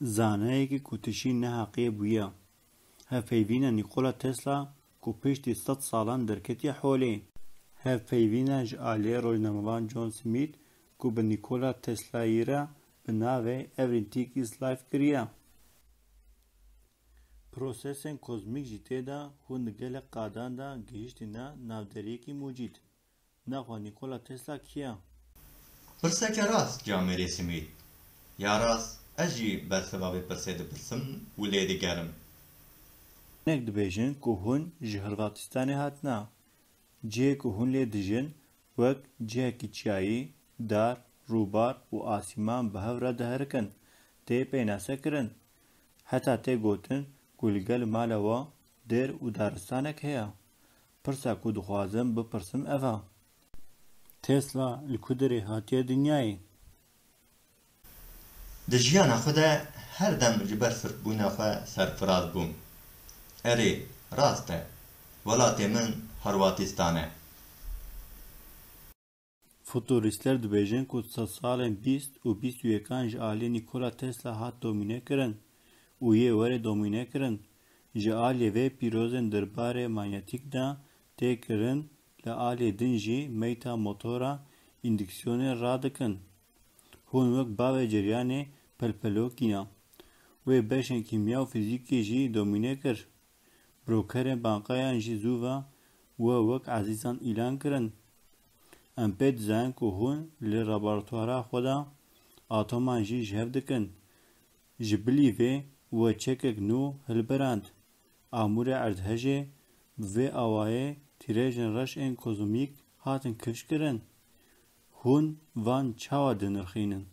Zaneyekî ku tişî neheqiyê bûye. Hevpeyvîna Nîkola Tesla ku piştî sed salan derketiye holê. Hevpeyvîna ji aliyê rojnamevan John Smith ku bi Nîkola Teslayî re bi navê Everything is Life kiriye. Prosesên kozmîk jî tê de hûn di gelek qadan de gihîştîne navderiyekî mucîd. Naxwe Nîkola Tesla kî ye? Pirseke rast ya Merê Simît. Ya rast ez jî bersiva vê pirsê dipirsim û lê digerim. Hinek dibêjin ku hûn ji Hırvatistanê hatine. Cihê ku hûn lê dijin wek cihekî çiyayî, dar, rûbar û asîman bi hev re diherikin, tê pênasekirin Heta tê gotin ku li gel mala we dêr û daristanek heye. Pirsa ku dixwazim bipirsim ev e. Tesla li ku derê hatiye dinyayê? Di jiyana xwe de her dem ji ber sirtbûna xwe serfiraz bûm. Erê, rast e. Welatê min Horwatîstan e. Futurîstler dibêjin ku di salên bîst û bîst û yekan ji aliyê Nîkola Tesla hat domînekirin û yê werê domînekirin. Ji aliyê vê pîrozên derbarê manyetîk de tê kirin, li aliyê din jî meyta motora îndiksiyonê radikin. Hûn wek bavê ceryanê pelpelokî ne. Wê beşên kîmya û fîzîkê jî domîne kir. Brokerê bankayan jî zû ve we wek ezîzan îlan kirin. Em pê dizayin ku hûn li rabartwara xwe de atoman jî ji hev dikin. Ji bilî vê we çekek nû hilberand. Amûrê erdhejê bi vê awayê tîrêjên reş ên kozmîk hatin kifş kirin. Hûn van çawa dinirxînin?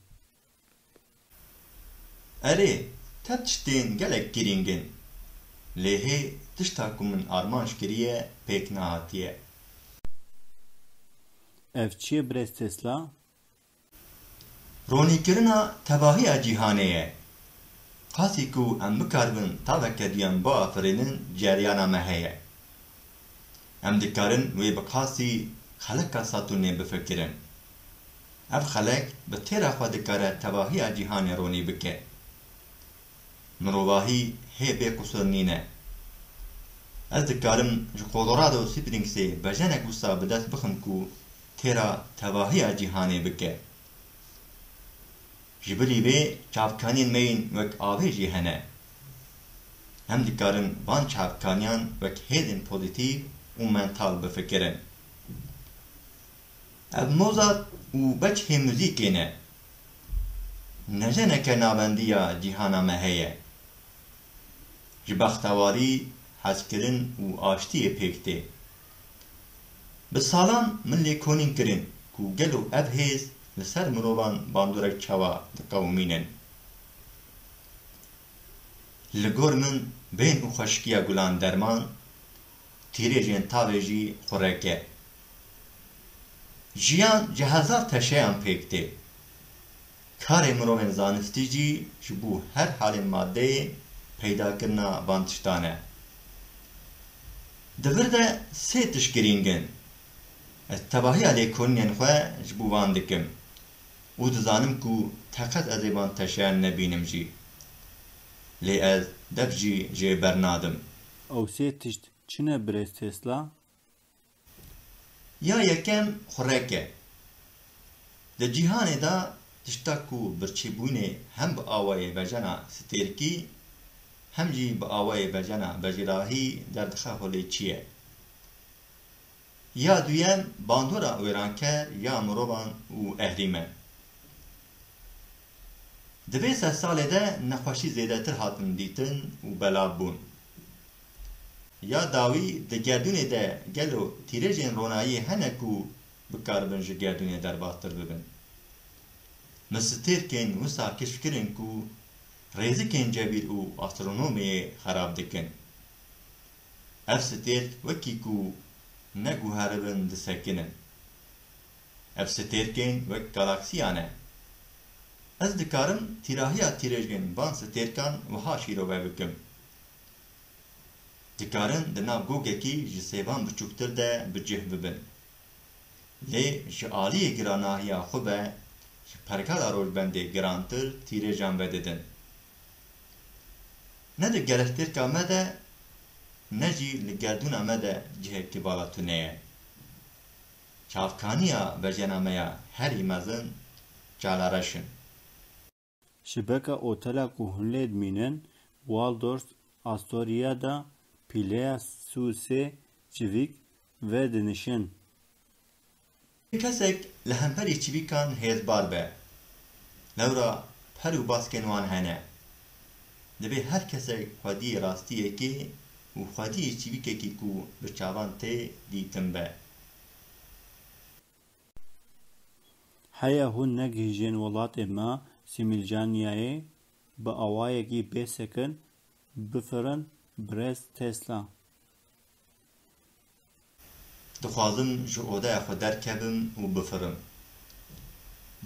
Erê, te tiştên gelek girîng in. Lê hê tişta ku min armanc kiriye pêk nehatiye. Ev çi ye birêz Tesla? Ronîkirina tevahiya cîhanê ye. Qasî ku em bikaribin taveke duyan biafirînin cereyana me heye. Em dikarin wê bi qasî xeleka Satûrnê bifikirin. Ev xelek bi têra xwe dikare tevahiya cîhanê ronî bike. Mirovahî hê bê qusur nîne. Ez dikarim ji Kolorado Springsê bejenek wisa bi dest bixim ku têra tevahiya cîhanê bike. Ji bilî vê çavkaniyên me yên wek avê jî hene. Em dikarin van çavkaniyan wek hêzên pozîtîv û mental bifikirin. Ev Mozart û Bechê muzîkê ne. Ne jeneke navendiya cîhana me heye. Ji bextewarî, hezkirin û aştiyê pêk tê. Bi salan min lê konîn kirin ku gelo ev hêz li ser mirovan bandorek çawa diqewimînin. Li gor min bên û xweşikiya gulan derman, tîrêjên tavê jî xureke. Jiyan ji hezar teşeyan pêk tê. Karê mirovên zanistî jî ji bo her halên madeyê peydakirina van tiştan e. Di vir de sê tişt girîng in. Ez tevahiya lêkolînên xwe ji bo van dikim û dizanim ku teqet ez ê van teşeyan nebînim jî. Lê ez dev jî jê bernadim. Ew sê tişt çi ne birêz Tesla? Ya yekem xurek e. Di cîhanê de tişta ku birçîbûnê hem bi awayê vejena stêrkî hem jî bi awayê vejena vejîrahî derdixe holê çi ye. Ya duyem bandora wêranker ya mirovan û ehrîmen. Di vê sed salê de nexweşî zêdetir hatin dîtin û belav bûn. Ya dawî di gerdûnê de gelo tîrêjên ronayî hene ku bikaribin ji gerdûnê derbastir bibin? Min stêrkên wisa keşf kirin ku rêzikên cebîr û astronomiyê xerab dikin. Ev stêrk wekî ku neguheribin disekinin. Ev stêrkên wek galaksiyan e. Ez dikarim tîrahiya tîrêj bên van stêrkan wiha şîrove bikim. dikarin di nav gogekî ji sêvan biçûktir de bi cih bibin. Lê ji aliyê giranahiya xwe ve ji pergala Rojbendê girantir tîrêjan vedidin. Ne di gelestêrka me de ne jî li gerdûna me de cihekî bala tune ye. Çavkaniya vejena me ya herî mezin Çalareş in. Şibeka otela ku hûn lê dimînin, Waldorf Astoria de pîleya sû sê çivîk ve dinişin. Kesek li hemperî çivîkan hêzbar be, lewra per û baskên wan hene. Divê her kesek xwediyê rastiyekê û xwediyê çivîkekî ku bi çavan tê dîtin be. Heya hûn negihîjên welatê me Sîmîlcaniyayê bi awayekî bê sekin bifirin birêz Tesla. Dixwazim ji odeya xwe derkevim û bifirim.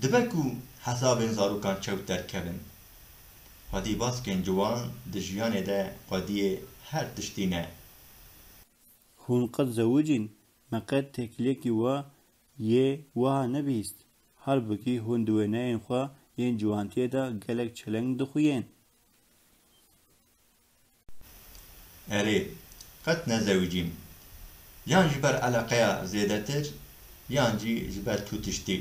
Dibe ku hesabên zarokan çewt derkevin. Xwedî baskên ciwan di jiyanê de xwediyê her tiştî ne. Hûn qet zewicîn? Me qet têkiliyekî wa yê wiha nebîst. Halbikî hûn di wêneyên xwe yên ciwantiyê de gelek çeleng dixuyên. Erê, qet nezewicîm. Yan ji ber eleqeya zêdetir yan jî ji ber tu tiştî.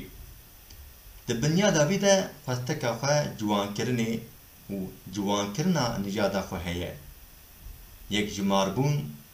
Di binyada vî de xwesteka xwe ciwankirinê û ciwankirina nijada xwe heye. Yekjimarbûn.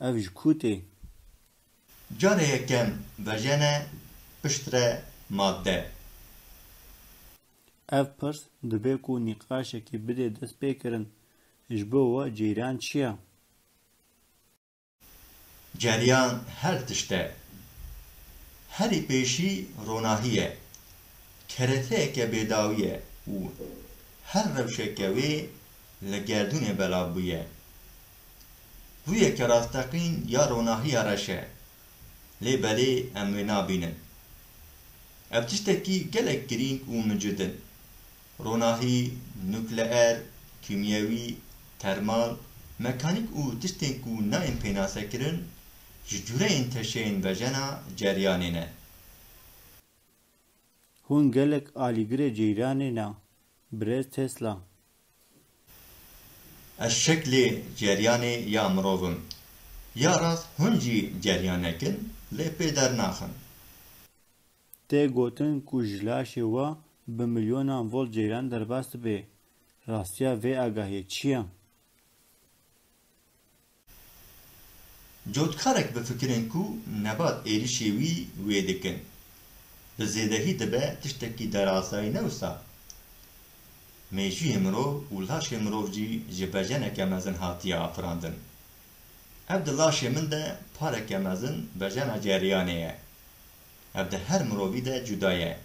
Ev ji ku tê? Carê yekem vejene piştre madde. Ev pirs dibe ku nîqaşekî bidê destpêkirin, Ji bo we ceyran çi ye? Ceryan her tişt e. Herî pêşî ronahî ye. Kereteyeke bêdawî ye û her rewşeke wê li gerdûnê belav bûye. rûyeke rasteqîn ya ronahiya reş e, lê belê em wê nabînin. Ev tiştekî gelek girîng û mincid in. Ronahî nukleer, kîmyewî, termal, mekanîk û tiştên ku nayên pênasekirin ji cûreyên teşeyên vejena ceryanê ne. Hûn gelek alîgirê ceyranê ne birêz Tesla. Ez şeklê ceryanê ya mirov im. Ya rast hûn jî ceryanek in lê pê dernaxin. Tê gotin ku ji laşê we bi milyonan volt ceyran derbas dibe. Rastiya vê agahiyê çi ye? Cotkarek bi fikirên ku Nebat êrişê wî wê dikin, bi zêdehî dibe tiştekî derazayî ne wisa? Mêjûyê mirov û laşê mirov jî ji bejeneke mezin hatiye afirandin. Ev di laşê min de pareke mezin bejena ceryanê ye. Ev di her mirovî de cuda ye.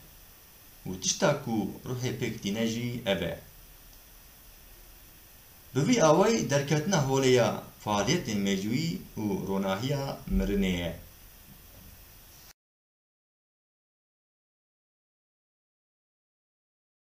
Û tişta ku ruhê pêk tîne jî ev e. Bi vî awayî derketina holê ya faaliyetên mecûyî û ronahiya mirinê ye.